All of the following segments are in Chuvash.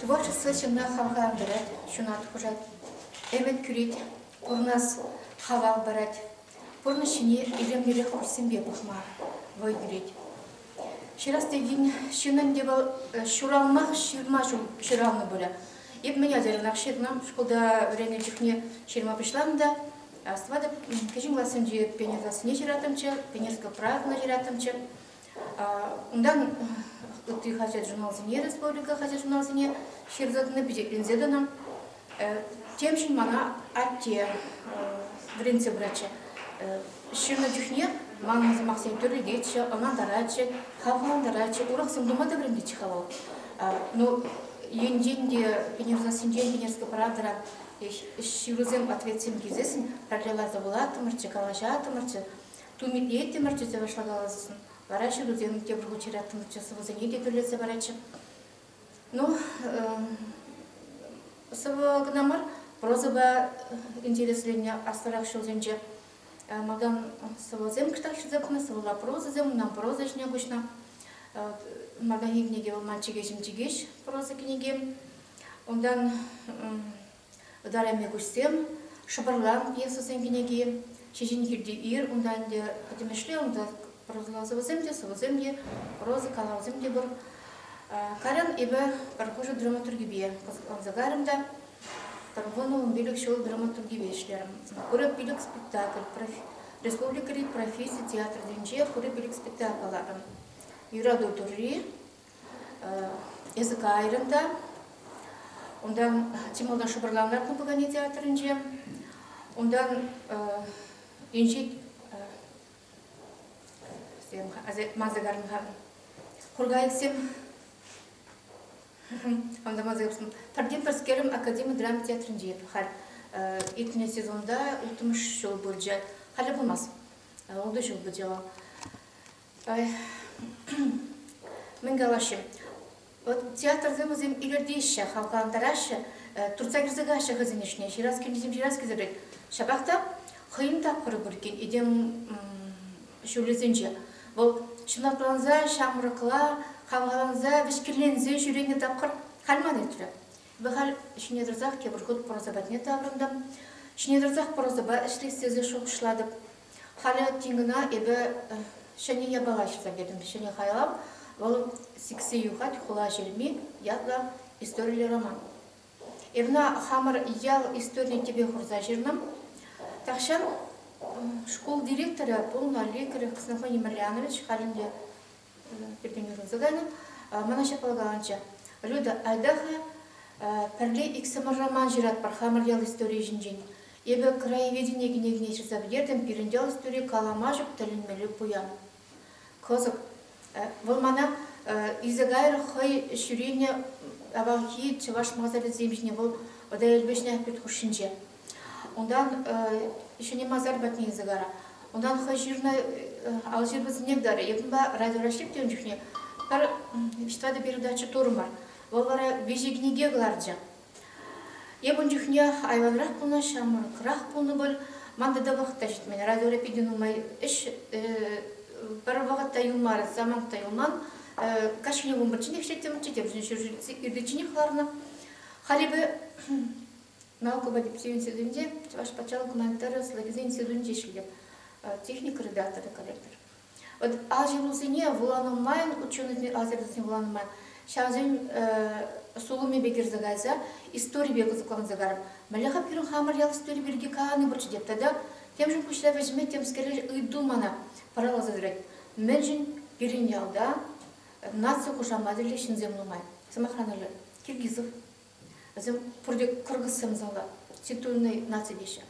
Творчество ҫынна хавхалантарать, ҫунат хушать, ӗмӗт кӳрет, пурӑнас хавал парать. Пурнӑҫ ҫине илемлӗрех куҫсемпе пӑхма вӑй кӳрет. Ҫырас текен ҫыннӑн те вӑл э, ҫуралмах ҫырма ҫул ҫуралнӑ пулӗ. Эп мӗн ачаранах ҫырнӑ, шкулта вӗреннӗ чухне ҫырма пуҫланӑ та Астӑватӑп, кӗҫӗн классенче пионер сассине ҫыраттӑмччӗ, Пионерская правда ҫыраттӑмччӗ. Унтан ытти хаҫат-журналсене, республика хаҫат-журналсене ҫырса тӑнӑ, пичетленсе тӑнӑ. Темшӗн мана атте вӗрентсе пыратчӗ. Ҫырнӑ чухне манӑн сӑмахсем тӳрлететчӗ, ӑнлантаратчӗ, хавхалантаратчӗ, урӑхсем тума та вӗрентетчӗ-ха вӑл. Ну, енчен те Пенер сассинчен Пенерская правдӑра ҫырусем, ответсем килсессӗн параллель ларса вулаттӑмӑрччӗ, калаҫаттӑмӑрччӗ. Тумитие тимӗр тӳсе вашлакаласшӑн. Вара ҫырусем те пур хучираттӑмччӗ, сӑвӑсене те тӳрлетсе паратчӗ. Ну, сӑвӑ кӑна мар, прозӑпа интересленнӗ аслӑрах ҫулсенче малтан сӑвӑсем кӑштах ҫырса пынӑ, сӑвӑла прозӑсем, унтан проза ӗҫне куҫнӑ. Малтанхи кӗнеке вӑл «Мальчик ӗҫӗм чикеҫ» проза кӗнеке. Унтан Ытарайми куҫсем, шӑпӑрлан пьесӑсен кӗнеки, Ҫеҫен килти ир, унта ӗнтӗ пӗтӗмӗшле унта проза сӑвӑсем те, сӑвӑсем те, проза калавӗсем те пур. Кайран эпӗ пӗр хушӑ драматургипе кӑсӑкланса кайрӑм та пӗр вунӑ ун пилӗк ҫул драматургипе ӗҫлерӗм. Хура пилӗк спектакль республикӑри професси театрӗнче Хура пилӗк спектакль кӑларрӑм. Юрату Турри, Эсӗ кайрӑн та унтан чи малтан шӑпӑрланар купӑкане театрӗнче, унтан инҫет мазагармха кургайӑксем анда мазагармсем пӗртен пӗрскерӗм академи драма театрӗнче халь иртнӗ сезонта улттӑмӗш ҫул пулчӗ халӗ пулмасть ултӑ ҫул пулчӗ вӑл Мӗн калаҫҫӗ? Вот театрсем вӗсем илӗртеҫҫӗ, хавхалантараҫҫӗ, туртса кӗрсе каҫҫӗ хӑйсен ӗҫне. Ҫырас килнисем ҫырас килсерен. Ҫапах та хӑйӗн тапхӑрӗ пур иккен этем ҫулӗсенче. Вӑл ҫунатланса, ҫамрӑкла, хавхаланса, вӗҫкӗнленсе ҫӳренӗ тапхӑр халь ман иртрӗ. Эпӗ халь ҫине тӑрсах тепӗр хут проза патне таврӑнтӑм. Ҫине тӑрсах прозӑпа ӗҫлес тесе шухӑшлатӑп. Халӗ Тингӑна эпӗ ҫӗнӗ япала ҫырса кӗтӗм. Ҫӗнӗ хайлав вӑл «Сиксе юхать хула ҫырми» ятлӑ историллӗ роман. Эвна хамӑр ял историйӗ тӗпе хурса ҫырнӑ. Тахҫан шкул директорӗ пулнӑ Лекарев Ксенофоний Марьянович халь ӗнтӗ пиртен юрласа кайнӑ. Мана ҫапла каланчӗ. Люда, айта-ха, пӗрле иксӗмӗр роман ҫыратпӑр хамӑр ял историйӗ ҫинчен. Эпӗ краеведение кӗнекине ҫырса пӗтертӗм, пирӗн ял истори калама ҫук тӗлӗнмелле пуян. Кӑсӑк. Вӑл мана илсе кайрӗ хӑй ҫӳренӗ авалхи чӑваш масарӗсем ҫине. Вӑл Вӑтаел Вӗҫнӗ пит хушшинче. Унтан ҫӗнӗ масар патне илсе кара. Унтан хӑй ҫырнӑ алҫырпӑсенех тарӗ. Йӑтӑнпа радиора ҫиптӗ ун чухне. Пӗр тӑватӑ передача турӑмӑр. Вӑл вара виҫӗ кӗнеке кӑларчӗ. Эп ун чухне айванрах пулнӑ, ҫамрӑкрах пулнӑ пуль. Ман тата вӑхӑт та ҫитмен. Радиора питӗ нумай ӗҫ пӗр вӑхӑт та юлмарӗ, самант та юлман. Каҫхине вун пӗрчченех ӗҫлеттӗм, чечемшӗн ҫӗр иртичченех ларнӑ. Халӗпе науково тӗпчев институтӗнче Чӑваш патшалӑх гуманитари ӑслӑлӑхӗсен институтӗнче ӗҫлетӗп, техника редакторӗ коллектор. Вот ҫыхусене вуланӑ майн, ученӑйсене, лазерсене вуланӑ майн, ҫавсен сулӑмӗпе кӗрсе кайса историпе кӑсӑкланса карӑп. Мӗнле-ха пирӗн хамӑр ял истори пирки калани пурччӗ теп. Тата темшӗн пуҫра вӗҫме темскере ыйту мана пӑраласа тӑрать. Мӗншӗн пирӗн ялта наци хушаматӗллӗ ҫынсем нумай? Сӑмахран, Киргизов. Вӗсем пурте кыргызсем зала, титульный наци деҫҫӗ.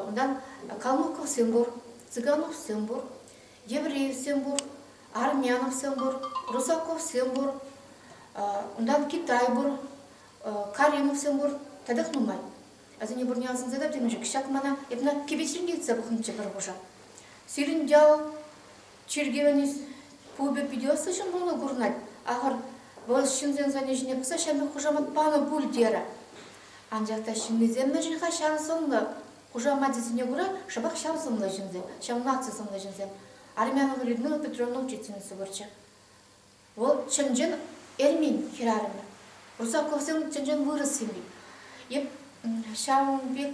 Унтан калмыковсем пур, цыгановсем пур, евреевсем пур, армяновсем пур, русаковсем пур, унтан Китай пур, Каримовсем пур, татах нумай. Асене бурне асӑнса та темӗнччӗ. Ҫак мана эпна кипечрен килсе пӑхнӑччӗ пӗр хуша. Сирӗн ял Чиркӗвӗн пупӗ питӗ ӑслӑ ҫӑмӑллӑн курӑнать. Ахӑр, вӑл ҫынсен сӑнӗ ҫине пӑхса ҫамрӑк хушамат панӑ пуль терӗ. Анчах та ҫыннисем мӗн-ши-ха ҫав сӑнлӑ? Хушамачӗсене кура шӑпах ҫав сӑнлӑ ҫынсем, ҫав наци сӑнлӑ ҫынсем. Армянова Людмила Петровна учительница пырчӗ. Вӑл чӑн-чӑн эрмен хӗрарӑмӗ. Русаковсем чӑн-чӑн вырӑс ҫынни. Эп ҫавӑн пек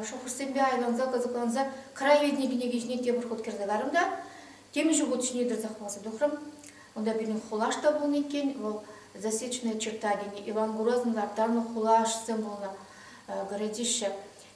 шухӑшсемпе айланса, кӑсӑкланса край витнӗ кӗнеке ҫине тепӗр хут кӗрсе кайрӑм та темиҫе хут ҫине тӑрса хӑварса тухрӑм. Унта пирӗн хулаш та пулнӑ иккен, вӑл «Засечная черта» тенӗ Иван Грознӑн лартарнӑ хулашсем пулнӑ городище.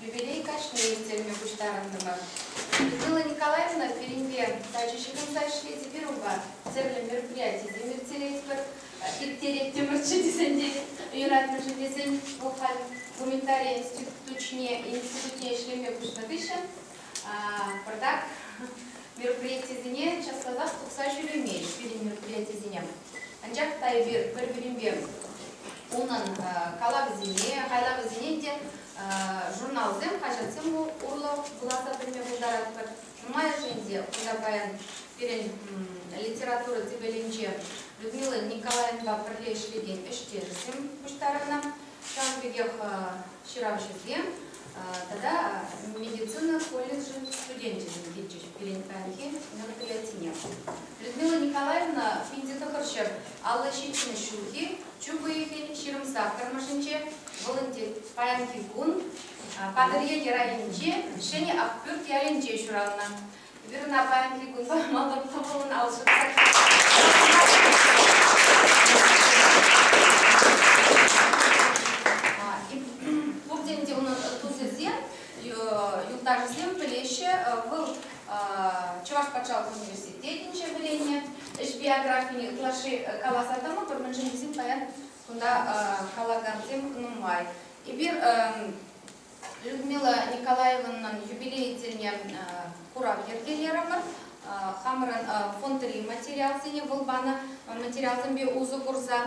Юбилей кашни ирттерме пуҫтарӑнтӑмӑр. Людмила Николаевна пирӗнпе тачӑ ҫыхӑнса ӗҫлет эпир унпа, тӗрлӗ мероприятисем ирттеретпӗр, ирттереттӗмӗрччӗ тесен те юратнӑшӑн тесен вӑл халь гуманитари институтне, институтне ӗҫлеме куҫнӑ хыҫҫӑн пӗртак мероприятисене час-часах тухса ҫӳремест пирӗн мероприятисене. Анчах та эпир пӗр-пӗринпе унӑн калавӗсене, хайлавӗсене те журналсем, хаҫатсем урлӑ вуласа пӗлме пултаратпӑр. Нумайӑшӗн те кунта паян пирӗн литература тӗпелӗнче Людмила Николаевнӑпа пӗрле ӗҫлекен ӗҫтешӗсем пуҫтарӑннӑ. Ҫавӑн пекех ҫыравҫӑсем тата медицина колледжӗн студенчӗсем килчӗҫ пирӗн паянхи мероприятине. Людмила Николаевна пӗнте тӑхӑрҫӗр алла ҫитмӗш ҫулхи Чӳк уйӑхӗн ҫырӑмсах тӑрмӑшӗнче волонтер паянхи кун Патӑрьел районӗнчи Ҫӗнӗ Ахпӳрт ялӗнче ҫуралнӑ. Вирӑна паянхи кун пӑхмалла кӑмӑллӑн ал Пурте ӗнтӗ унӑн тусӗсем, юлташӗсем пӗлеҫҫӗ. Вӑл Чӑваш патшалӑх университетӗнче вӗреннӗ. ӗҫ биографине ытлашши каласа тӑмӑпӑр, мӗншӗн тесен паян кунта калакансем нумай. Эпир Людмила Николаевнӑн юбилей тӗлне курав йӗркелерӗмӗр. Хамӑрӑн фондри материалсене вӑл панӑ материалсемпе усӑ курса.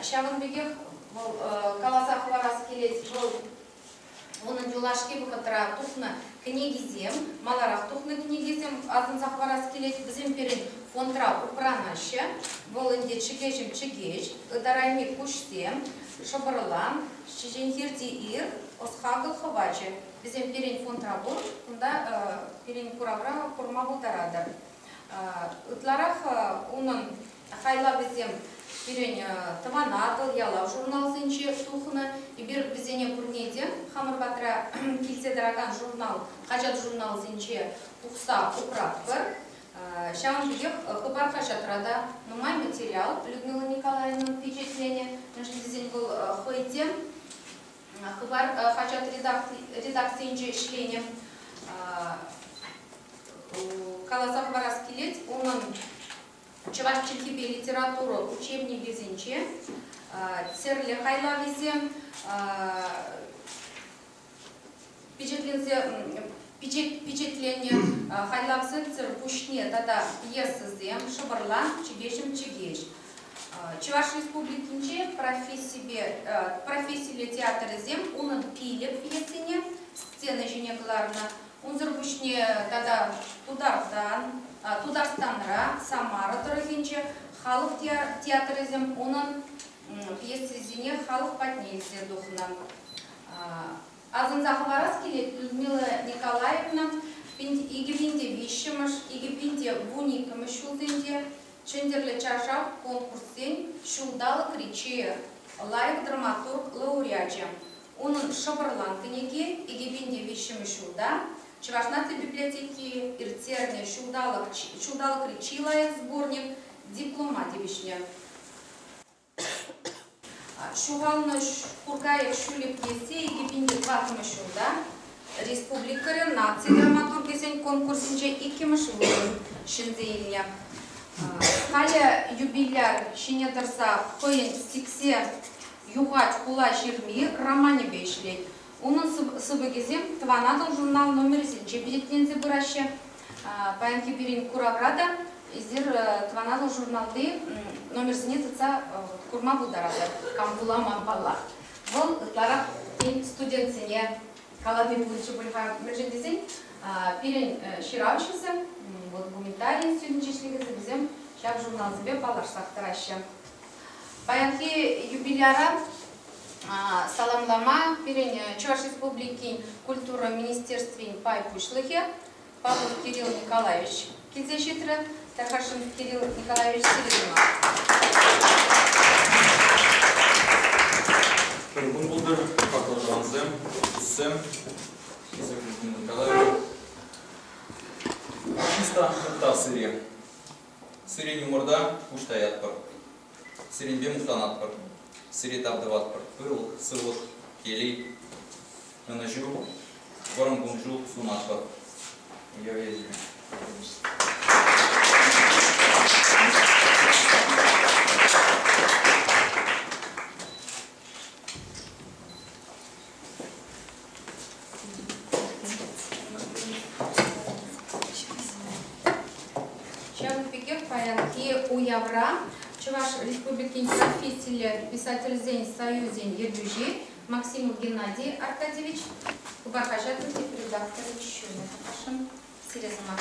Ҫавӑн пекех вӑл каласа хӑварас килет, вӑл Унӑн юлашки вӑхӑтра тухнӑ кӗнекисем, маларах тухнӑ кӗнекесем асӑнса хӑварас килет. Вӗсем пирӗн фондра упранаҫҫӗ. Вӑл ӗнтӗ чӗкеҫӗм чӗкеҫ, ытарайми куҫсем, шӑпӑрлан, ҫиченхирти ир, ӑс-хакӑл хӑвачӗ. Вӗсем пирӗн фондра пур, кунта пирӗн куравра курма пултаратӑр. Ытларах унӑн Хайлавӗсем пирӗн Тӑван Атӑл ялав журналсенче тухнӑ. Эпир вӗсене пурне те хамӑр патра килсе тӑракан журнал, хаҫат-журналсенче тухса упратпӑр. Ҫавӑн пекех Хыпар хаҫатра та нумай материал Людмила Николаевнӑн пичетленӗ, мӗншӗн тесен вӑл хӑй те Хыпар хаҫат редакцийӗнче ӗҫленӗ. Каласа хӑварас килет, унӑн Чӑваш чӗлхипе литература учебникӗсенче тӗрлӗ хайлавӗсем пичетленсе пичетленнӗ хайлавсӑрсӑр пуҫне тата пьесӑсем шӑпӑрлан чӗкеҫӗм чӗкеҫ Чӑваш Республикинче профессипе профессилле театрӗсем унӑн пилӗк пьесине сцена ҫине кӑларнӑ Унсӑр пуҫне тата Тутартан, Тутарстанра, Самара тӑрӑхӗнче халӑх театрӗсем унӑн пьесисене халӑх патне илсе тухнӑ. Асӑнса хӑварас килет Людмила Николаевна икӗ пин те виҫҫӗмӗш, икӗ пин те вун иккӗмӗш ҫулсенче Чӗнтӗрлӗ чаршав конкурссен ҫулталӑкри чи лайӑх драматург лауреачӗ, Унӑн Шӑпӑрлан кӗнеки икӗпинчи виҫҫӗмӗш ҫулта, Чӑваш наци библиотеки ирттернӗ ҫулталӑкри чи лайӑх сборник диплома тивӗҫнӗ. Ҫухалнӑ Куркаев ҫӳлӗк пьесе икӗпинчи тӑваттӑмӗш ҫулта республикӑри наци драматургӗсен конкурсӗнче иккӗмӗш вырӑн ҫӗнсе илнӗ. Халӗ юбиляр ҫине тӑрса хӑйӗн сиксе Юхать хула ҫырми романӗпе ӗҫлет. Унӑн сыпӑкӗсем Тӑван Атӑл журнал номерӗсенче пичетленсе пыраҫҫӗ. Паянхи пирӗн куравра та эсир Тӑван Атӑл журналти номерсене тытса курма пултаратӑр, кам вулама паллах. Вӑл ытларах, тен, студентсене калани пулчӗ пуль-ха, мӗншӗн тесен пирӗн ҫыравҫӑсем, вӑл гуманитари институтӗнче ӗҫлекенсем вӗсем ҫак журналсемпе паллашсах тӑраҫҫӗ. Паянхи юбиляра саламлама пирӗн Чӑваш Республикин культура министерствин пай пуҫлӑхӗ Павел Кирилл Николаевич килсе ҫитрӗ. Тархашинов Кирилл Николаевич Сиринова. Кӗркун пултӑр, баклажансем, туссем. Кирилл Николаевич. Артиста Мухтар Сире. Сире юморта пуҫ таятпӑр. Сирӗнпе мухтанатпӑр. Сире тав тӑватпӑр. Пылак, сывлӑх, телей, ӑнӑҫу, вӑрӑм кун-ҫул сунатпӑр. Уявӗсене. Ҫавӑн пекех паянхи уявра Чӑваш Республикин профессиллӗ писательсен союзӗн ертӳҫи Максим Геннадий Аркадьевич Хыпар хаҫатӑн редакторӗ ҫумӗ тӑрӑшӑн сире сӑмах.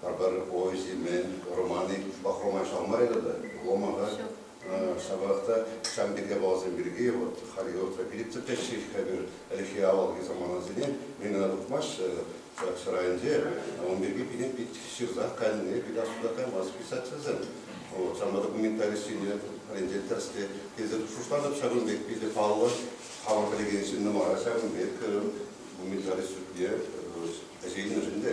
Пӗр ой симен, романы пӑхрӑма шалмарӗ тата. Ломаха ҫапах та ҫавӑн пек япаласем пирки вот Хариотра периптер теҫҫӗ-ҫке пир ӗлӗкхи авалхи саманасене, мен ӑна тухмасть ҫак ҫӗрайӗнче, ун пирки пире пит ҫырсах кайнине пит асуда каймас писательсем. Вот, ҫавна документалистсене пӗринче тӗрӗске тесе шутлатӑп ҫакӑн пек питӗ паллӑ хамӑр пӗлекен ҫыннӑма ҫакӑн пек документалист шутне ӗҫе илнӗшӗн те.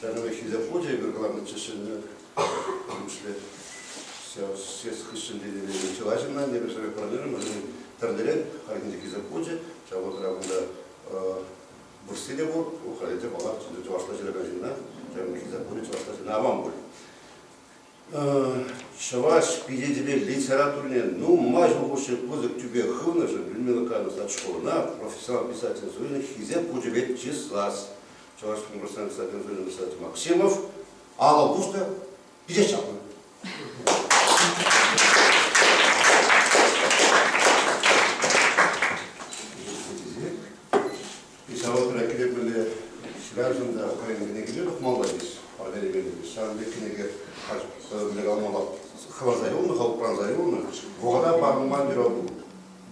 Ҫакӑн пек Хисеп хучӗ эпир кӑларнӑччӗ ҫӗнӗ ключлӗ. Ҫес хыҫҫӑн тетеле чылай ҫынна небӗрсере пӑрӑнерӗм, вӗсен тӗрлӗрен хальхинче Хисеп хучӗ, ҫав вӑхӑтра кунта вырсси те пур, халӗ те паллах, чӑвашла ҫыракан ҫынна, ҫакӑн Хисеп хучӗ чӑвашла ҫынна аван пуль. Чӑваш пичетӗпе литературине нумай ҫул хушши пысӑк тӳпе хывнӑшӑн Людмила Казанова-Сачкова профессионал писатель званийӗн Хисеп хучӗпе чыслас Чӑваш Республикасының писатель званийӗн писатель Максимов алӑ пуснӑ, пичет ҫапнӑ. Ҫавӑнпа кирек мӗнле хӗрарҫӑн та хӑйӗн кӗнекине тухмалла тесе Валерий Леонидович. Ҫавӑн пек кӗнеке мӗнле калама хӑварса юлнӑ, хӑв упранса юлнӑ. Вӑхӑта парӑнман юрату.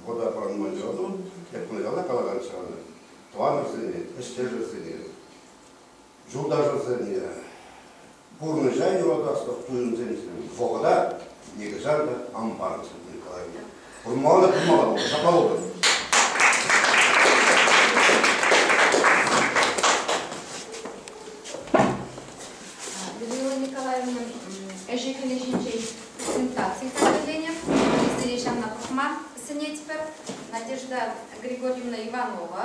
Вӑхӑта парӑнман юрату, эп кунашкалла калакан ҫавна. Тӑванӑрсене, ӗҫтешӗрсене, юлташӑрсене пурнӑҫа юратаслӑх туйӑмсемсем вӑхӑта нихӑҫан та ан парӑнсӑр тенӗ каланине курмалла-курмалла пулнӑ ҫапла пултӑр. Людмила Николаевна ӗҫӗ-хӗлӗ ҫинчен презентаци хатӗрленӗ. Сире ҫавна пӑхма сӗнетпӗр. Надежда Григорьевна Иванова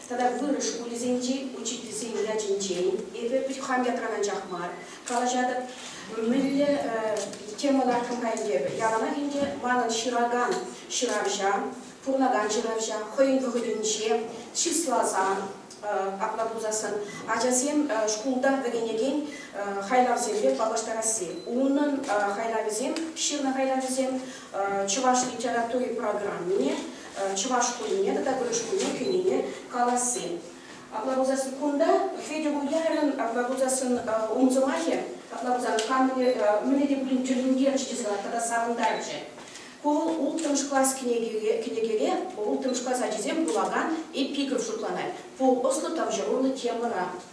Тата вырӑс шкулӗсенчи учительсен ячӗнчен эпӗ пит хам ятран анчах мар калаҫатӑп. Мӗнле тема лартӑм-ха ӗнтӗ яланах ӗнтӗ? Манӑн ҫыракан ҫыравҫа, пурӑнакан ҫыравҫа хӑйӗн вӑхӑтӗнче чысласа апла пулсассӑн ачасем шкулта вӗренекен хайлавсемпе паллаштарасси, унӑн хайлавӗсем, ҫырнӑ хайлавӗсем чӑваш литератури программине чӑваш шкулне тата вырӑс шкулне кӗнине каласси. Апла пулсассӑн кунта Федя Уярӑн апла пулсассӑн ун сӑмахӗ апла пулсан камне мӗне те пулин тӳрлентерчӗ тесе тата савӑнтарчӗ. Ку вӑл улттӑмӗш класс кӗнекере улттӑмӗш класс ачисем вулакан эпиграф шутланать, ку ӑслӑ тавҫӑруллӑ темӑна.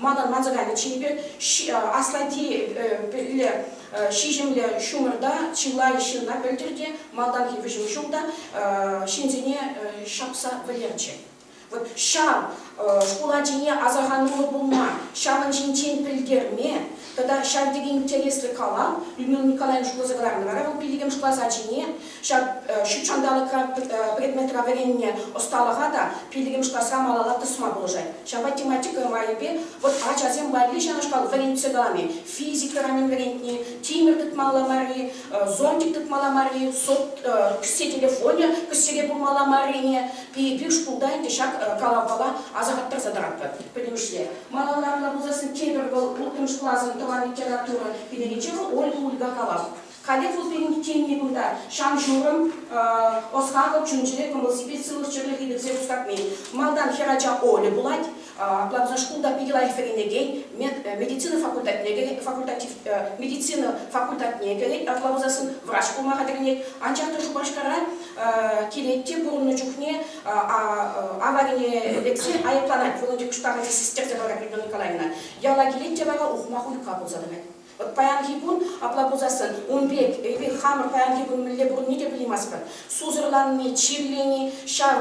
Манӑн ватӑканӗ чипер, аслати пӗлле ҫиҫӗмлӗ ҫумӑрта чылай ҫынна пӗлтӗр те, малтанхи вӗҫӗм ҫулта ҫынсене ҫапса вӗлерчӗ. Вот ҫав шкул ачине асӑрхануллӑ пулма, ҫавӑн ҫинчен пӗлтерме, Тата ҫав тери интереслӗ калав. Людмила Николаевна шутласа кӑларнӑ вара вӑл пиллӗкмӗш класс ачине ҫак ҫут ҫанталӑкра предметра вӗреннӗ ӑсталӑха та пиллӗкмӗш класра малалла тӑсма пулӑшать. Ҫапа тематика майӗпе вӑт ачасем валли ҫавнашкал вӗрентсе кӑларни, физика ранӗн вӗрентни, тимӗр тытмалла марри, зонтик тытмалла марри, кӗсье телефонӗ кӗсьере пулмалла маррине пирӗн шкулта ӗнтӗ ҫак калавпала асӑрхаттарса тӑратпӑр. Пӗтӗмӗшле Малаллахла пулсассӑн тепӗр вӑл улттӑмӗш класӑн тӑван литература кӗнекинче вӑл Ольга Ульгакалав. Каллех улттин иккенни кунта, ҫан-ҫурӑм, ӑс-хакӑл чун-чӗре кӑмӑл-сипет сывлӑх-чӗрлӗхе кӗртсе хускатни. Малтан хӗр ача Оля пулать, апла шкулта питӗ лайӑх вӗренекен, медицина факультетне кӗрет, факультатив, медицина факультатне кӗрет, апла пулсассӑн врач пулма хатӗрленет. Анчах та Шупашкара килет те пурӑннӑ чухне аварине лексе айӑпланать. Волонтер пуҫтарӑвӗ систертӗ вара Григория Николаевна. Яла килет те вара ухмах уйӑхра пулса тӑрать. Вӑт паянхи кун апла пулсассӑн ун пек эпир хамӑр паянхи кун мӗнле пурӑнни те пӗлейместпӗр. Сусӑрланни, чирлени, ҫав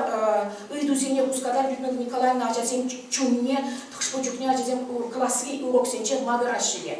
ыйтусене хускатать Людмила Николаевна ачасен чунне. Хӑш-пӗр чухне ачасем класри уроксенче макӑраҫҫӗ те.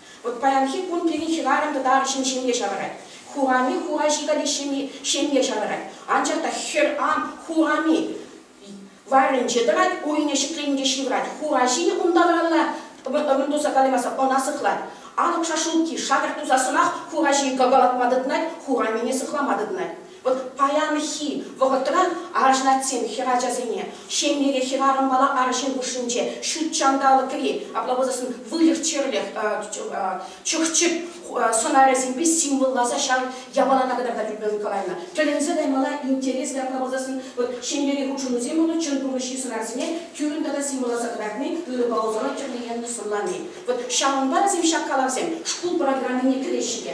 Вӑт паянхи кун пирӗн хӗрарӑм тӑтарӑшӗн ҫемье ҫавӑрать. Хурами хураҫи каллех ҫемье ҫавӑрать. Анчах та хӗр ам Хурами варринче тӑрать, уйне ҫӗкленинче ҫывӑрать. Хураҫи унта варалла ывӑн туса калаймасан ӑна сыхлать. Алӑк шашлукки шакӑрт тусассӑнах хураҫи кӑкӑлатма тытӑнать, Хурамине сыхлама тытӑнать. Вӑт паянхи вӑхӑтра арӑшнатсем хӗрачасене ҫемьере хӗрарӑмпала арҫын хушшинче ҫут ҫанталӑкри облагодасын выльӑх-чӗрлӗх, чӑх-чӗп сӑнарӗсемпе символласа ҫав япалана кӑтарта тӳпе ыйкаланӑ. Тӗлӗнсе каймалла интерес облагодасын ҫемьери хутшӑнусем тунӑ чӑн пурнӑҫри сӑнарсене тӳррӗн тата символласа кӑтартни, ырӑпа усала тӗрлӗ енлӗ сӑнлани. Вӑт ҫавӑнпа вӗсем ҫак калавсем шкул программине кӗреҫҫӗ те.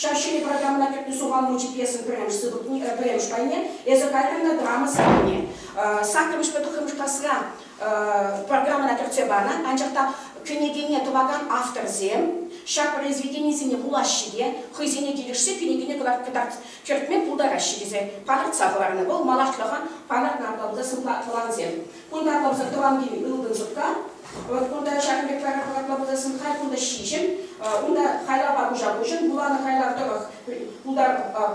Ҫав ҫӗнӗ программӑна кӗртнӗ сухан мучи пьесӑн пӗрремӗш сыпӑкне, пӗрремӗш пайне, эсӗ кайрӑн та драма сӑввине саккӑрмӗшпе тӑххӑрмӗш класра программӑна кӗртсе панӑ. Анчах та кӗнекене тӑвакан авторсем ҫак произведенисене вулаҫҫӗ те хӑйсене килӗшсе кӗнекене кӗртме пултараҫҫӗ тесе палӑртса хӑварнӑ вӑл малашлӑха палӑртнӑ апла пулсан тӑвансем. Кунта кӑнсӑр тӑван кил ылтӑн шӑпка. Вӑт кунта ҫакӑн пек пӗр хӑратма пуласшӑн халь кунта ҫиҫӗм. Унта хайлавпа куҫа-куҫӑн вуланӑ хайлав тӑрӑх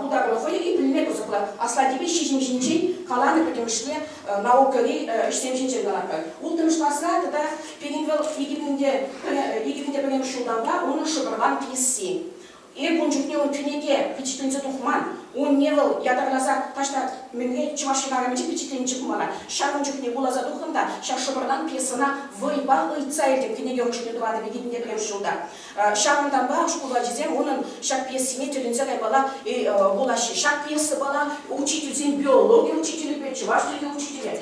пултарулӑх вӑйӑ пӗлме кӑсӑклӑ. Аслатипе ҫиҫӗм ҫинчен каланӑ пӗтӗмӗшле наукӑри ӗҫсем ҫинчен ларатпӑр. Улттӑмӗш класра тата пирӗн вӑл икӗ мӗн те пӗрремӗш ҫултанпа унӑн шӑпӑрван пьеси. Эп ун чухне унчченхи те пичетленсе тухман. Унне вӑл ятарласа таҫта мӗнле чӑваш ҫӑнарӑмӗнче пичетленнӗччӗ ку мана. Ҫак ун чухне вуласа тухрӑм та ҫак шӑпӑртан пьесӑна вӑйпа ыйтса илтӗм. Кӗнеке хушшине тӑватӑп икӗтӗнне пӗрремӗш ҫулта. Ҫавӑнтанпа шкул ачисем унӑн ҫак пьесине тӗлӗнсе каймалла вулаҫҫӗ. Ҫак пьеса мана учительсен биологи учителӗпе, чӑваш чӗлхи учителӗ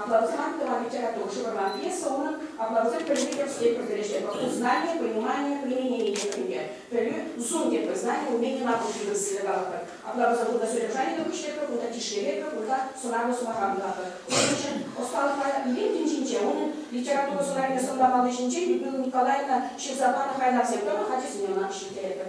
Аплавусем тӑван литература ҫывӑрман пьеса унӑн Аплавусем пӗлни тӗрӗслев пӗлтерӗшне вӑл узнание, понимание, применение пӗлме, пӗлӳ, зум тепӗр знание, умение на пути вырӑссене калатпӑр. Аплавуса кунта содержаниллӗ хыҫлӑпӑр, кунта тишкеретпӗр, кунта сӑнарлӑ сӑмаха вулатпӑр. Унӑн ӗҫӗ ӑсталӑхлӑ илем тӗнчинче, унӑн литература сӑнарне сӑнлама палли ҫинчен Людмила Николаевна ҫырса панӑ хайлавсем тӑрӑх ачасене ӑнах ҫиртеретпӗр.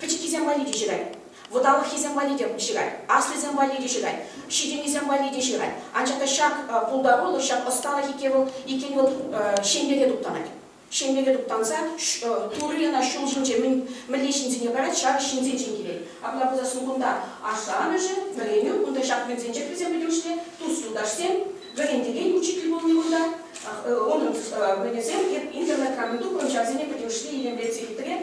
Пӗчӗккисем валли те ҫырать. Вӑталӑххисем валли те ҫырать. Аслисем валли те ҫырать. Ҫитӗннисем валли те ҫырать. Анчах та ҫак пултарулӑх, ҫак ӑсталӑх иккен вӑл, иккен вӑл ҫемьере туптанать. Ҫемьере туптанса Турри ӑна ҫул ҫинче мӗнле ҫынсене парать, ҫакӑ ҫынсенчен килет. Апла пулса сурхунта ашшӗ-амӑшӗ, вӗренӳ, кунта ҫак мелсенчех вӗсем пӗлӳҫлӗ, тус-юлташсем, вӗрентекен, учитель пулни кунта. Унӑн мӗнӗсем, эп интернетра мӗн тупрӑм, ҫавсене пӗтӗмӗшле илемлетсе хитре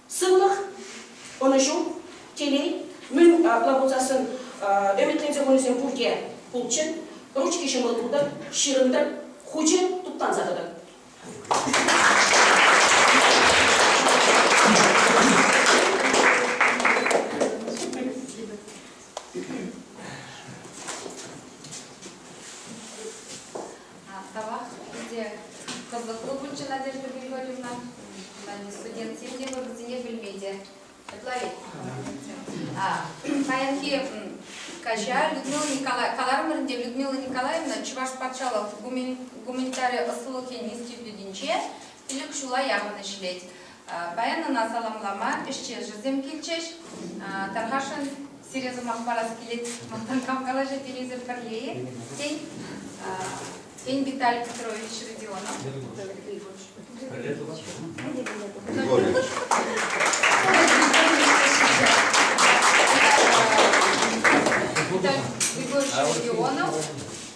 Сывлӑх, ӑнӑҫу, телей, мӗн апла пулсассӑн ӗмӗтленсе хунисем пурте пулччӑр, ручки ҫӑмӑл тутӑр, ҫырӑнтӑр, хучӗ туптанса тӑтӑр. Тавах ӗнтӗ кӑвӑклӑ пулчӗ Надежда Григорьевна. Студентсем те вӑрӑсене пӗлме те ытларить. Паянхи каҫа Людмила Николаевна, каларӑмӑрӗнте Людмила Николаевна Чӑваш патшалӑх гуманитари ӑслӑлӑх институтӗнче пилӗк ҫула яхӑн ӗҫлет. Паян ӑна саламлама ӗҫтешӗсем килчӗҫ. Тархасшӑн, сире сӑмах парас килет, мантан хавхалаҫу тенисӗр пӗрле-и? Тен, тен Виталий Петрович Родионов? Виталий Григорьевич Родионов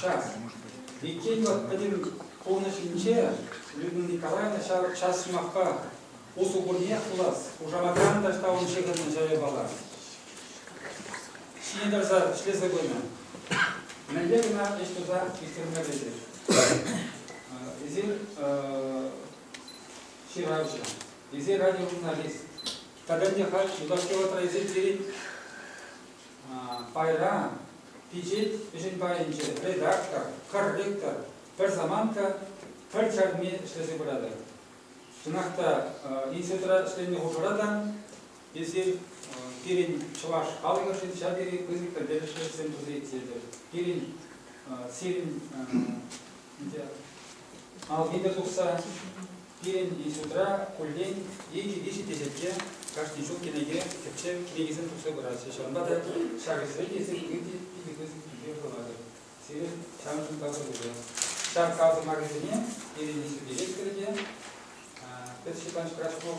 Час. Иккен вӑл пӗтӗм пурнӑҫӗнче Людмила Николаевна ҫав час сӑмахпа усӑ курниех пулас, хушаматран та ҫавӑн ҫыхӑннӑ чайопала ҫине тӑрса ӗҫлесе пынӑ. Мӗнле кӑна ӗҫ туса ӳстерме пӗлтӗр. Эсир ҫыравҫӑ, эсир радиожурналист. Тата не халь юлашки вӑхӑтра эсир пирӗн Пайра пичет ӗҫӗн пайӗнче редактор, пӗр ректор, пӗр самантка, пӗр чарми ӗҫлесе пыратӑр. Чӑнах та институтра ӗҫленӗ хушӑра та эсир пирӗн чӑваш халӑхӗшӗн ҫав тери пысӑк пӗлтерӗшлӗ ӗҫсем туса ирттеретӗр. Пирӗн сирӗн алхимия тухса Пирӗн институтра куллен икӗ-виҫӗ теҫетке кашни ҫул кӗнеке тӗпчев кӗнекисем тухса пыраҫҫӗ. Ҫавӑнпа та ҫак ӗҫре те сирӗн икӗ пысӑк тӳпе хыватӑр. Сирӗн ҫавӑншӑн тапсӑруллӑ. Ҫак тав сӑмахӗсене Ирина Сергеевская те, Пӗтҫӗпанч Крачков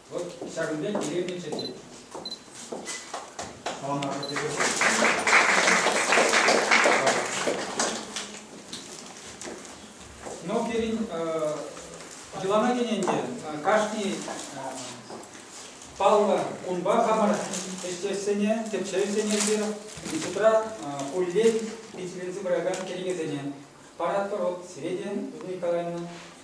Вӑт ҫакӑн пек илемлӗ чечек. Саламатпӑр тесе Но пирӗн йӑлана кӗнӗ ӗнтӗ кашни паллӑ кунпа хамӑр ӗҫтешсене, тӗпчевҫӗсене те шутра хуллен пичетленсе пыракан кӗнекесене паратпӑр. Вот сире те, Людмила Николаевна,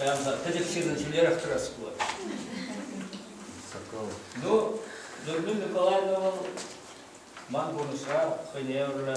Прямо тӗтӗк ҫырнӑ ҫӳлерех тӑрас пулать. Ну, Людмила Николаевна вӑл ман пурнӑҫра хӑйне евӗрлӗ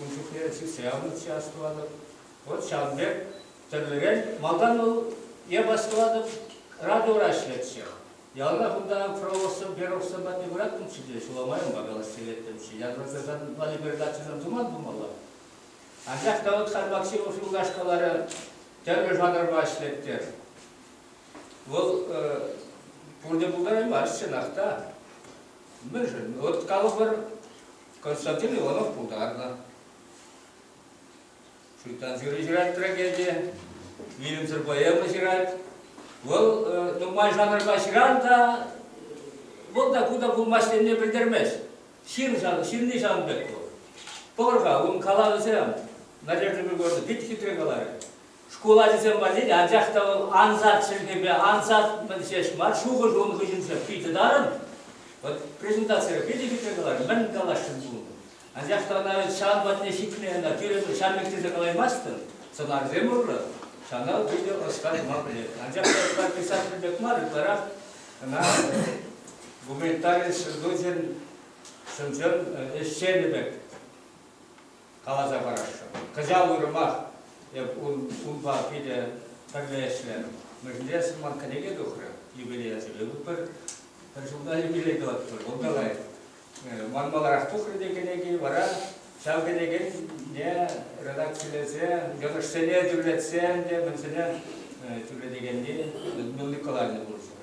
Ун чухне сӳтсе явнӑччӗ астӑватӑп. Вот ҫавӑн пек тӗрлӗрен малтан вӑл эп астӑватӑп радиора ӗҫлетчӗ. Яланах унта Фроловсем, Перовсем патне пыратӑмччӗ те ҫуламайӑнпа калаҫса илеттӗмччӗ. Январкасан валепередачӑсем туман пулмалла. Анчах та вӑл Хармаксимов юлкаш каларӗ, тӗрлӗ жанрпа ӗҫлет-тӗр. Вӑл пурте пултараймасть чӑнах та. Мӗншӗн? От калӑпӑр, Константин Иванов пултарнӑ. Шуйттан ҫырли ҫырать трагедие, вилӗмсӗр поэма ҫырать. Вӑл э, нумай жанрпа ҫыран та, вӑл та ку та пулмасть тенине пӗлтермест. Ҫын шан, ҫынни ҫавӑн пек вӑл. Пӑвӑр-ха, ун калавӗсем, Надежда Григорьевна, пит хитре каларӗ. Шкул ачисем валли анчах та вӑл ансат чӗлхепе ансат ҫеҫ мар, шухӑш ун хыҫӗнче питӗ тарӑн. Вот презентацире питӗ хитре каларӗ, мӗн каласшӑн кунта. Анчах та ӑна ҫавӑн патне ҫитме ӑна тӳрӗ ҫам пек тесе калаймастӑн. Сӑнарсем урлӑ ҫана питӗ ӑста тума пӗлет. Анчах та ӑста писатель пек мар, ытларах ӑна гуманитари сӑн ӗҫченӗ пек каласа парасшӑн. Кӑҫал уйрӑмах эп унпа питӗ пӗрле ӗҫлерӗм. Мӗнле сӑмах кӗнеке тухрӗ, юбилея сӳлетпӗр. Пӗр ҫулта юбилей тӑватпӑр, кунта лайӑх. Ман маларах тухрӗ те кӗнеки, вара ҫав кӗнекене редакцилесе, йӑнӑшсене тӳрлетсе ӗнтӗ мӗнсене тӳрлетекенни Людмила Николаевна пулӑшать.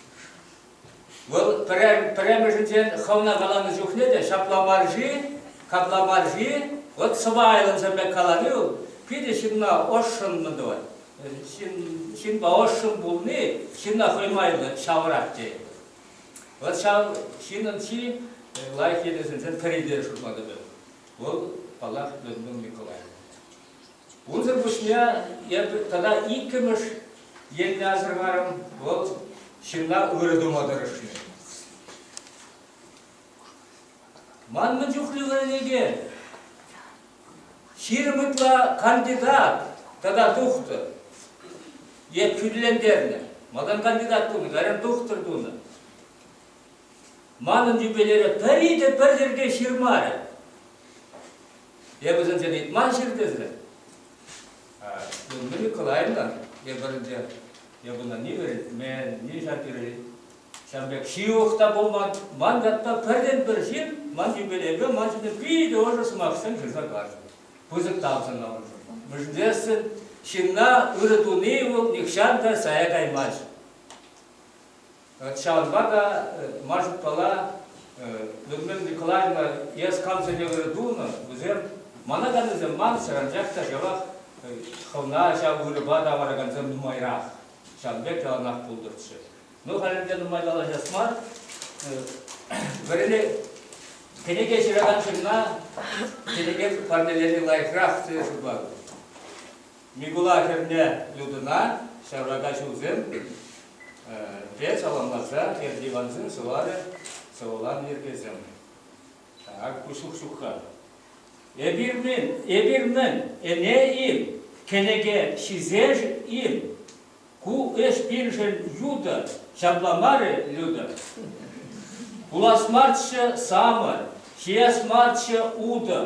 Вӑл пӗрремӗшӗнчен хӑвна каланӑ чухне те ҫапла мар-ши, капла мар-ши, вӑт сӑпайлӑнсӑр пек калани вӑл питӗ ҫынна ӑшшӑннӑ тӑвать. Ҫын, ҫынпа ӑшшӑн пулни ҫынна хӑй майлӑ ҫавӑрать тейӗн. Вӑл ҫав ҫынӑн чи лайӑх йӗрӗсенчен пӗри те шутла тытать. Вӑл, паллах, Людмила Николаевна. Унсӑр пуҫне эпӗ тата иккӗмӗш енне асӑрхарӑм, вӑл ҫынна ырӑ тума тӑрӑшни. Ман мӗн чухлӗ вӗренекен, ҫирӗм ытла кандидат тата тухтӑр. Эп хӳтӗлентернӗ. Малтан кандидат тунӑ, кайран тухтӑр тунӑ. Манӑн юбилейре пӗри те пӗр йӗрке ҫырмарӗ. Е вӗсенсен ыйтман ҫын тесе? Людмила Николаевна, эпир те эпӗна ни вӗрентмен, ни ҫапирӗ. Ҫав пек ҫывӑх та пулман. Ман ятпа пӗртен-пӗр ҫын ман юбилейпе ман ҫине питӗ ӑшӑ сӑмахсем ҫырса каҫнӑ. Пысӑк тав сӑнавӑршӑн. Мӗншӗн ҫынна ырӑ туни вӑл нихҫан та сая каймасть. Ҫавӑнпа та ман шутпала Людмила Николаевна эс кам сӗнӗвӗр тунӑ, вӗсем мана та вӗсем мансӑр, анчах та ҫавах хӑвна ҫав вырӑпа тавӑракансем нумайрах, ҫавӑн пек яланах пултӑрччӗ. Ну, халӗ те нумай калаҫас мар. Вӗренӳ кӗнеке ҫыракан ҫынна кӗнеке парнелени лайӑхрах, тесе шутлатӑп. Микула хӗрне Людӑна ҫаврака ҫулсем пе саламласа Эртивансем сӑварӗ сӑвӑланӑ йӗркесем. Ак пуҫлӑх ҫухха. Эпир мӗн, эпир мӗн, ӗне-им, кӗнеке ҫисер-им? Ку ӗҫ пирӗншӗн ютӑ, ҫапла мар-и, Люда? Кулас марччӗ самӑр, ҫиес марччӗ утӑ,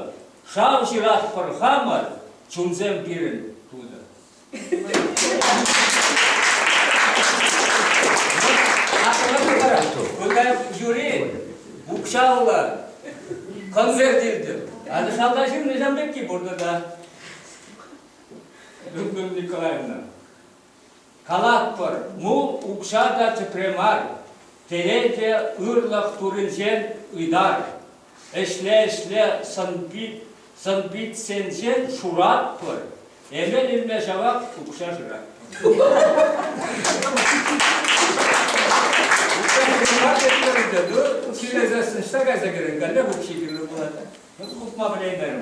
шав ҫыратпӑр хамӑр, чунсем пирӗн тутӑ. Аслӑ вара, выртать юри, укҫаллӑ конверт илтӗм. Акӑ шалта ҫырнӑ ҫам пекки пуртӑ та. Людмила Николаевна. Калатпӑр, мул укҫа та тӗпре мар, телей те ырлӑх туринчен ыйтар. Ӗҫле-ӗҫле сӑн-питсенчен шуратпӑр, эмел-ӗмле ҫавах укҫа шыратпӑр. Укҫа ҫырма тетпӗр ӗнтӗ, ҫӳлесессӗн ҫта кайса кӗрен каллех укҫи кирлӗ пулать. Хупма пӗлеймерӗм.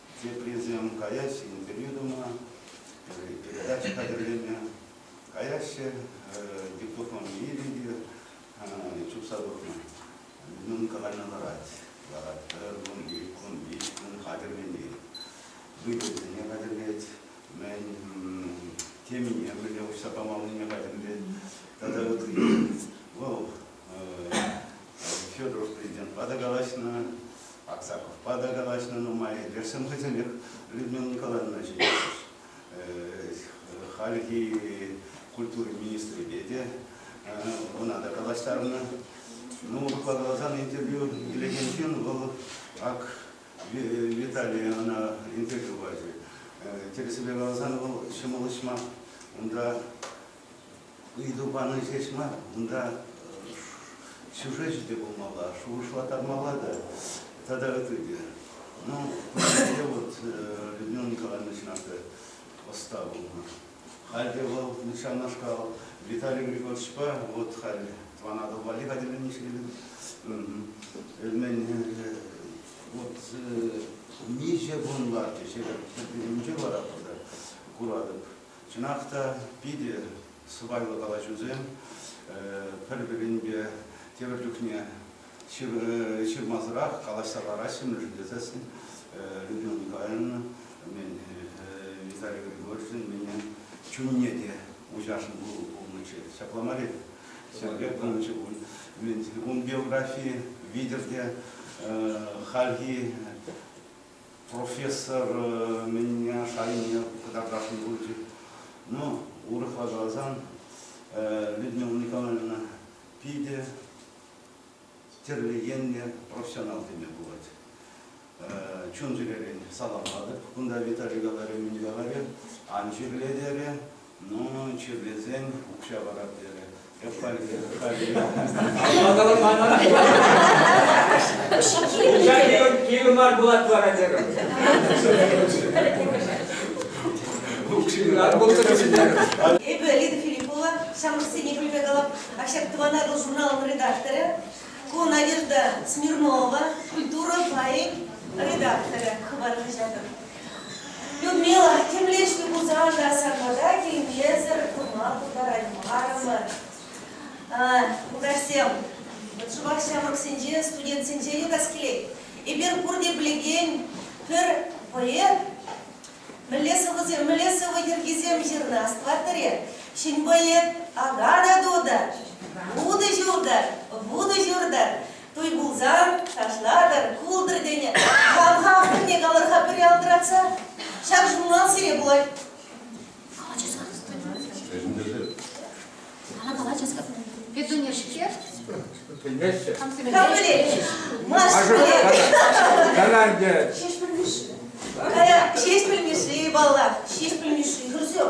Теприсем каяҫҫӗ интервью тума, передача хатӗрлеме, каяҫҫӗ гипнофобие те чупса тухнӑ. Мӗн каланӑ ларать, ларать пӗр кунти, кунти, кун хатӗрлени, выльӑхсене хатӗрлет, мӗн темине мӗнле уҫса памаллине хатӗрлет тата ытти. Вӑл Федоров президентпа та калаҫнӑ, Аксаковпа та калаҫнӑ нумай, эдерсем хӑйсенех Людмила Николаевна ҫӗнтерчӗҫ. Хальхи культура министрӗпе те ӑна та калаҫтарнӑ. Ну, урӑхла каласан, интервью илекен ҫын вӑл ак Виталий ӑна интервью пачӗ. Тӗрӗсипе каласан, вӑл ҫӑмӑл ӗҫ мар. Унта ыйту пани ҫеҫ мар, унта сюжечӗ те пулмалла, шухӑшлаттармалла та тата ытти те. Ну, пӗрре вот Людмила Николаевна чӑнах ӑста пулнӑ. Халь те вӑл ҫавнашкал Виталий Григорьевичпа вот халь Тӑван Атӑл валли хатӗрленнӗ ҫемьене. Мен вот миҫе кун ларчӗ, ҫепӗҫ вӑхӑтӗнче вара куратӑп Чӑнах та питӗ сӑпайлӑ калаҫусем, пӗр-пӗринпе тепӗр чухне ҫырмасӑрах калаҫса лараҫҫӗ-мӗн тесен Людмила Николаевна мен Виталий Григорьевичӑн менен чунне те уҫашӑн пулнӑччӗ. Ҫапла мар-и? Сергей Павлович, ун биографийӗ витӗр те хальхи профессор мӗнне шайне кӑтартатӑн пулчӗ. Ну, урӑхла каласан, Людмила Николаевна питӗ тӗрлӗ енлӗ профессионал теме пулать. Чун-чӗререн саламлатӑп. Кунта Виталий говорю, не говорю, ан чирле терӗ. Ну, чирлесен укҫа парап терӗ. Укҫа кирлӗ мар пулать вара терӗм. Эпӗ Лида Филиппова, самостийный политолог, а всяк тӑван Атӑл журналын редакторы. Ку Надежда Смирнова, культура пайӗн редакторы хыпар хаҫатӑн. Людмила темле ӗҫлӗ пулсан та сармата килмесӗр пырма пултараймарӑмӑр. Мулкачсем, вӑт шӑпах ҫамрӑксенче, студентсенче юлас килет. Эпир пурте пӗлекен пӗр вӑйӑ. Мӗнле сӑвӑсем, мӗнле сӑвӑ йӗркисем ҫырнӑ астӑваттӑр-и? Ҫын вӑйӗ, ага та ту та, вутӑ ҫу та, вутӑ ҫур та, Туй пулсан, ташлатӑр, култӑр тенӗ. Хам-ха хӑйне калӑр-ха пӗри алтӑратса. Ҫак журнал сире пулать. Калаҫӑсӑр. Петунешке? Петунешке? Капелетчӗҫ. Кана ӗнтӗ? Ҫеҫпӗл Мишши. Кая, Ҫеҫпӗл Мишши, паллах. Ҫеҫпӗл Мишши, Хрущев.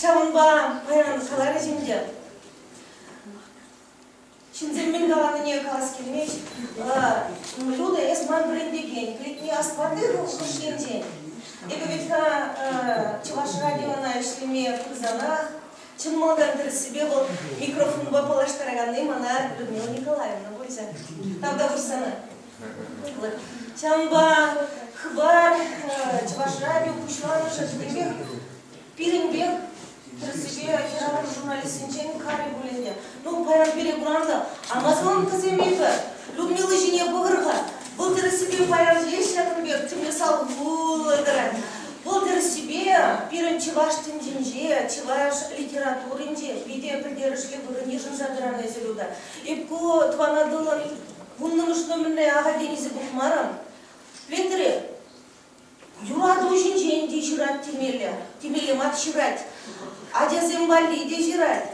ҫавӑнпа паян каларӗҫ ӗнтӗ. Ҫынсем мӗн каланине калас килмест. Люда, эс ман вӗрентекен. Кӗтни астманни хӑш енчен. Эпӗ ведь-ха чӑваш радиона ӗҫлеме пырсанах чӑн малтан тӗрӗссипе вӑл микрофонпа паллаштараканни мана Людмила Николаевна пулчӗ. Тавтапуҫ сана. Ҫавӑнпа хыпар Чӑваш радио пуҫламӑшӗ пирӗнпех пирӗн пек тӗрӗссипе хӗрарӑм журналистсенчен кам пулӗ те. Ну, паян пире куранса Амазонкӑсем эпӗ Людмила ҫине пӑхӑр-ха. Вӑл тӗрӗссипе паян еш ҫакӑн пек тимлӗ сал пулӑ тӑрать. Вӑл тӗрӗссипе пирӗн чӑваш тӗнчинче, чӑваш литературинче питӗ пӗлтерӗшлӗ вырӑн йышӑнса тӑран эсир унта. Эп ку тӑван Атӑлӑн Вуннӑмӗш-нумӗн мӗнле аха тенисӗр пухмарӑм. Петӗре юрату ҫинчен те ҫырать темелле, темелле мат ҫырать. Ачасем валли те ҫырать.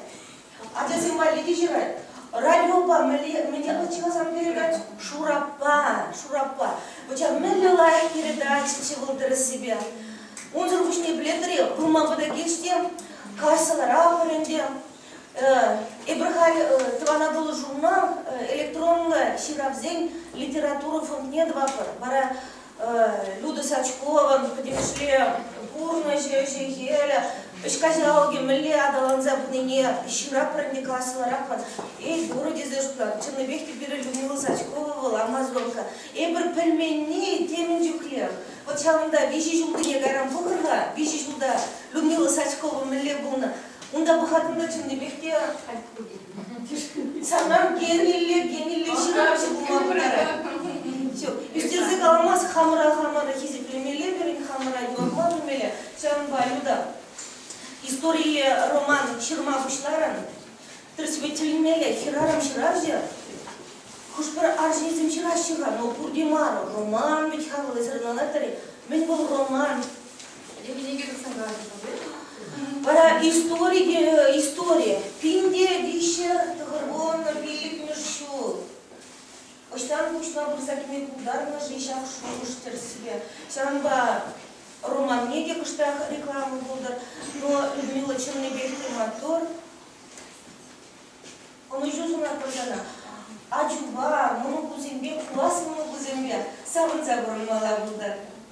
Ачасем валли те ҫырать. Радиопа мӗнле мӗне ӑччахасан передать? Шураппа, Шураппа. Вӑча мӗнле лайӑх передаччӗ вӑл тӗрӗссипе? Унсӑр пуҫне пӗлетӗр-и, пырма пытӑкех те, каҫсӑрах ӗнтӗ. Эпир халь Тӑван Атӑлу журнал электронлӑ ҫыравсен литература фондне тӑватпӑр. Вара Люда Сачкован пӗтӗмӗшле пурнӑҫӗ, ӗҫӗ-хӗлӗ, ӗҫ каҫалӑкӗ мӗнле аталанса пынине ҫыраппӑр ӗнтӗ каслӑраххӑн. Эй, Турӑ тесе шутлар, чӑннипех те пирӗн Людмила Сачкова вӑл амазонка. Эпир пӗлменни темӗн чухлех. Вӑт ҫавӑнта виҫӗ ҫултине кайран пӑхӑр-ха, виҫӗ ҫулта Людмила Сачкова мӗнле пулнӑ, Унта пӑхаттине чӑннипех те санран генилле, генилле ҫыравҫӑ пулма пултарать. Все, ӳстерсе каламас хамӑра хамӑра хисеплемелле пирӗн хамӑра юратма пӗлмелле. Ҫавӑнпа, Люда, историлле роман ҫырма пуҫларӑн. Тӗрӗсветелмелле, хӗрарӑм ҫыравҫӑ хӑш-пӗр арҫынсем ҫыраҫҫӗ-ха, но пурте мар. Роман вӗт хавхалансӑрӑналать-тӗр. Мӗн вӑл роман? Вара истори, истори. Пинте виҫӗ тӑхӑр кун, пиллӗкмӗш ҫул. Ӑҫтан пуҫла пырса кӗме пултарнӑ-ши ҫак шухӑш-тӗрӗссипе? Ҫавӑнпа романне те кӑштах реклама пултӑр. Но Людмила чӑннипех те маттур. Ӑнӑҫу сунатпӑр сана. Ачупа, мӑнукусемпе, класс мӑнукусемпе савӑнса пурӑнмалла пултӑр.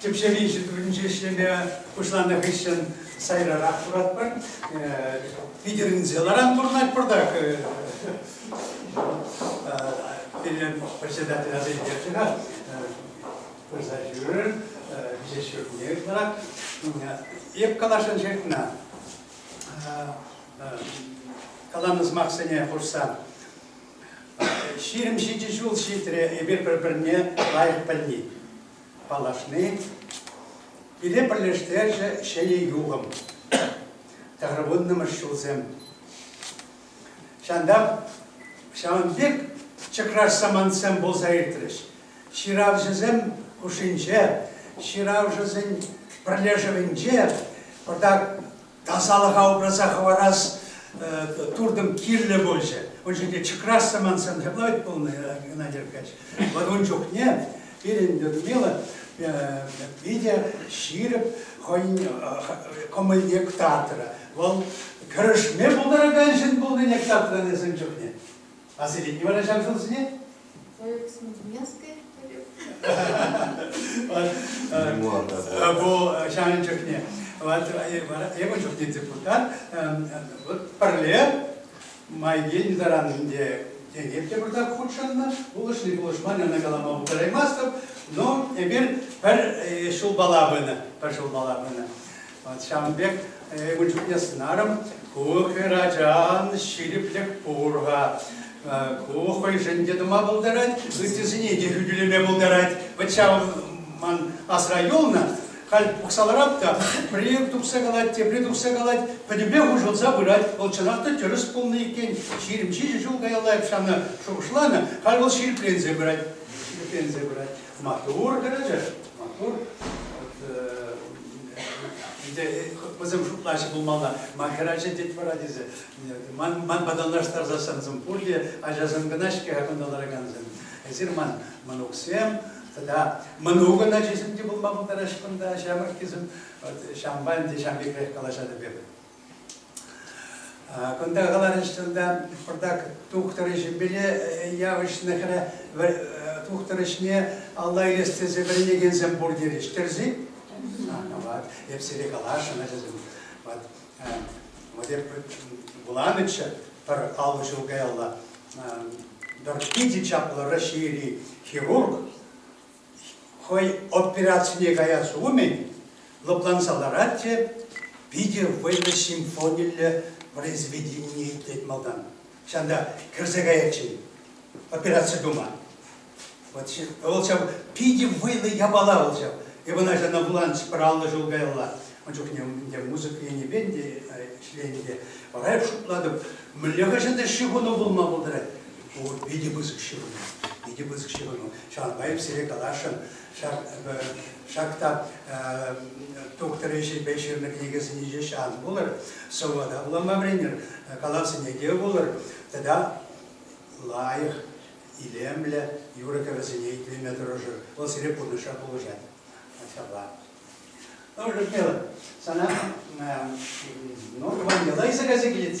Тӗпчев институтӗнче ӗҫлеме пуҫланӑ хыҫҫӑн сайрарах туратпӑр. Питӗрӗнселаран пурӑнать пуртак. Пирӗн председатель аса илтерчӗ-ха, пырса ҫӳрер, виҫе ҫуртне ытларак. Эп каласшӑн ҫыртна. Каланӑ сӑмахсене хушса Ҫирӗм ҫичӗ ҫул ҫитрӗ эпир пӗр-пӗрне лайӑх пӗлни, паллашни. Пире пӗрлештерчӗ ҫӗнӗ юхӑм, тӑхӑрвуннӑмӗш ҫулсем. Ҫантах ҫавӑн пек чӑкраш самантсем пулса иртрӗҫ. Ҫыравҫӑсем хушшинче, ҫыравҫӑсен пӗрлешӗвӗнче пӑртак тасалӑха упраса хӑварас туртӑм кирлӗ пулчӗ. Ун чухне чӑкрас самантсан ҫапла вӗт пулнӑ, Геннадий Аркадьевич. Вӑл ун чухне пирӗн Людмила питӗ ҫирӗп хӑйӗн кӑмӑлне кӑтартрӗ. Вӑл кӗрешме пултаракан ҫын пулнине кӑтартрӗ эсем чухне. Василий не вара ҫав ҫулсене? Бұл шағын чухне. Эпӗ чухне депутат пӗрле майген заранинде Енеп те burada хутшӑннӑ. Пулӑшни пулӑшман ӑна калама пултараймастӑп. Но эпир пӗр ҫулпала пынӑ. Пӗр ҫулпала пынӑ. Ҫавӑн пек ун чухне сӑнарӑм, ку хӗр ачан ҫирӗплӗх пур-ха. Ку хӑйшӗн те тума пултарать, ыттисене те хӳтӗлеме пултарать. Вӑт ҫав ман асра юлнӑ. Халь пухса ларап та пӗрер тухса калать, тепре тухса калать, пӗтӗмпе хушӑлса пырать. Вӑл чӑнах та тӗрӗс пулнӑ иккен. Ҫирӗм ҫичӗ ҫул каялла ҫавна шухӑшланӑ. Халь вӑл ҫирӗпленсе пырать. Ҫирӗпленсе пырать. Маттур кӗрӗчӗш, маттур. Вӗсем шутлаҫҫӗ пулмалла, ман хӗрача тет вара тесе. Ман, ман патанлаштарсассӑн пурте ачасем кӑна-ҫке кунта ларакансем. Эсир ман мӑнуксем тата мӑнукӑн ачисем те пулма пултараҫҫӗ кунта ҫамрӑккисем. Ҫампа ӗнтӗ ҫам пекрех калаҫатӑп эпӗ. Кунта каларӗҫ тунта пӑртак тухтӑр ӗҫӗпеле явӑҫнӑ хӗрӗ тухтӑр ӗҫне алла илес тесе вӗренекенсем пур терӗҫ. Тӗрсен? Вот, эп сире каласшӑн, ачасем. Вот, вот эп вуланӑччӗ пӗр аллӑ ҫул каялла. Пӗр питӗ чаплӑ Раҫҫейри хирург хӑй операцине каяс умӗн лӑпланса ларать те питӗ вӑйлӑ симфониллӗ произведение итлет малтан. Ҫавӑнта кӗрсе каятчӗ операци тума. Вот, вӑл ҫав питӗ вӑйлӑ япала вӑл ҫав. Эп ӑна ҫавна вуланӑ пӗр аллӑ ҫул каялла. Ун чухне ӗнтӗ мусӑк енӗпе ӗнтӗ ӗҫленӗ те. Вара эп шутлатӑп, мӗнле хӑҫан та ҫыхӑну пулма пултарать. Пур питӗ пысӑк ҫыхӑну. Питӗ пысӑк ҫыхӑну. Ҫавӑнпа эп сире каласшӑн, ҫак, ҫак та тухтӑр ӗҫӗпе ҫырнӑ кӗнекесене ҫеҫ ан вулӑр, сӑвӑ та вулама вӗренӗр, калав сӗнеке вулӑр тата лайӑх, илемлӗ юрӑ-кӗвӗсене итлеме тӑрӑшӑр. Вӑл сире пурнӑҫра пулӑшать. Ҫапла. Ну, Людмила, сана ну, Ванька Лайса кайса килет.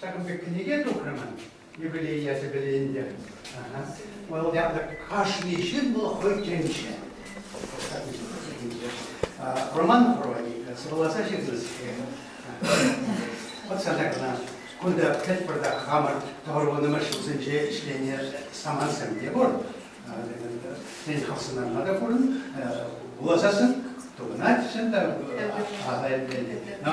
Ҫакӑн пек кӗнеке тухрӑмӑр юбилей ячӗпеле ӗнтӗ. Вӑл янтӑк кашни ҫын вӑл хӑй тӗнче. Роман прози сӑвӑласа ҫырнӑскер. Вӑт сана кӑна кунта пӗлт пӑртак хамӑр тӑвӑрвӑнӑмӑр ҫулсенче ӗҫленӗ самантсем те пур. Тен, хавсӑнланма та пурӑн, вуласассӑн тупӑнать чӑн та, аса илмелле. Но